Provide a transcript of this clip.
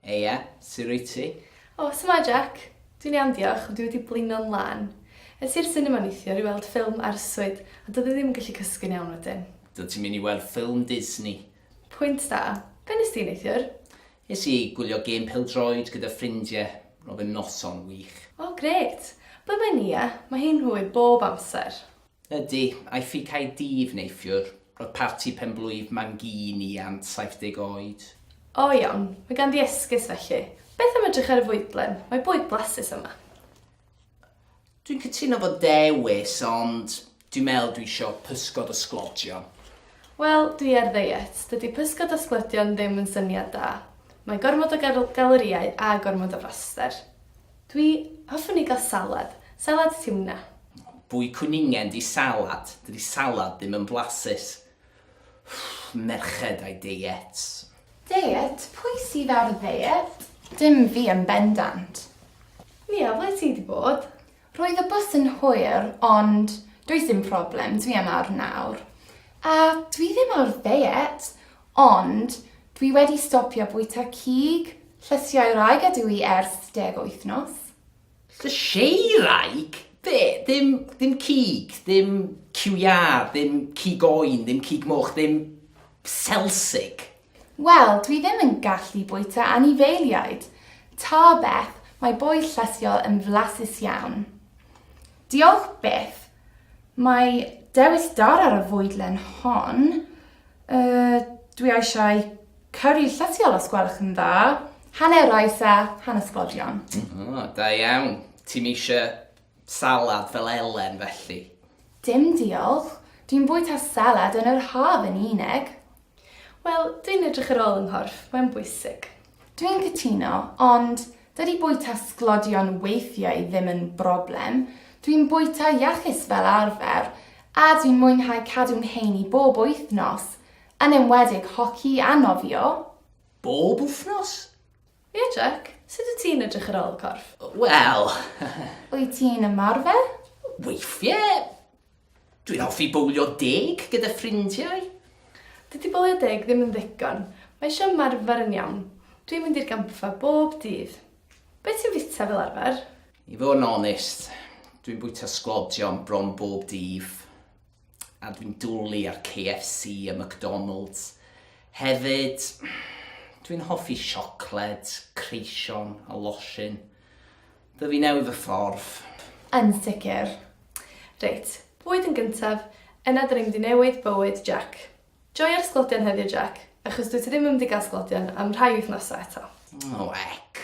Heia, su rwyt ti? O, su'mae Jack! Dwi'n iawn diolch, ond dwi wedi blino'n lân. Es i i'r sinema neithiwr i weld ffilm arswyd, a doedd i ddim yn gallu cysgu'n iawn wedyn. Do ti'n mynd i weld ffilm Disney? Pwynt da. Be nes di neithiwr? Es i gwylio gêm pêl-droed gyda ffrindie. Roedd yn noson wych. O, grêt! Ble mae Nia? Mae hi'n hwy bob amser. Ydy, aeth i Caerdydd neithiwr. Roedd parti pen-blwydd mam gu i i Ant, 70 oed. O iawn, mae ganddi esgus felly. Beth am edrych ar y fwydlen? Mae bwyd blasus yma. Dwi'n cytuno fod dewis, ond dwi'n meddwl dwi isio pysgod a sglodion. Wel, dwi ar ddeiet. Dydy pysgod a sglodion ddim yn syniad da. Mae gormod o gal- galorïau a gormod o fraster. Dwi hoffwn i gael salad. Salad tiwna. Bwy cwningen di salad. Dydi salad ddim yn blasus. Merched a'i deiets. Deiet? Pwy sydd ar ddeiet? Dim fi yn bendant. Nia, ble ti di bod? Roedd y bws yn hwyr, ond does dim problem, dwi yma nawr. A dwi ddim ar ddeiet, Ond, dwi wedi stopio bwyta cig llysiau wraig a dwy ers deg wythnos. Llysiau wraig? Be? Ddim, ddim cig, ddim cyw iâ, ddim cig oen, ddim cig moch, ddim selsig? Wel, dwi ddim yn gallu bwyta anifeiliaid. Ta beth, mae bwyd llysiau yn flasus iawn. Diolch byth, Mae dewis da ar y fwydlen hon. Uh, dwi eisiau cyrru llysiol os gwelwch yn dda. Hanner oes a hanes bodlion. Oh, da iawn. Ti'n eisiau salad fel Elen felly? Dim diolch. Dwi'n bwyta salad yn yr haf yn unig. Wel, dwi'n edrych ar ôl yng nghorff, mae'n bwysig. Dwi'n cytuno, ond dydy bwyta sglodion weithiau ddim yn broblem. Dwi'n bwyta iachus fel arfer, a dwi'n mwynhau cadw'n heini bob wythnos, yn enwedig hoci a nofio. Bob wythnos? Ie, Jack, sut wyt ti'n edrych ar ôl y corff? Wel... Wyt ti'n ymarfer? Weithiau. Dwi'n hoffi bowlio deg gyda ffrindiau. Dydy bowlio deg ddim yn ddigon, mae eisiau ymarfer yn iawn. Dwi'n mynd i'r gampfa bob dydd. Be ti'n fwyta fel arfer? I fod yn onest, dwi'n bwyta sglodion bron bob dydd. A dwi'n dwli ar KFC a McDonalds. Hefyd, dwi'n hoffi siocled, creision a losin. Dw i newydd y ffordd. Yn sicr. Reit, bwyd yn gyntaf, yna dyn ni'n mynd i newid bywyd Jac. Joio'r sglodion heddiw Jac, achos dwyt ti ddim yn mynd i gael sglodion am rhai wythnosau eto. O, ec!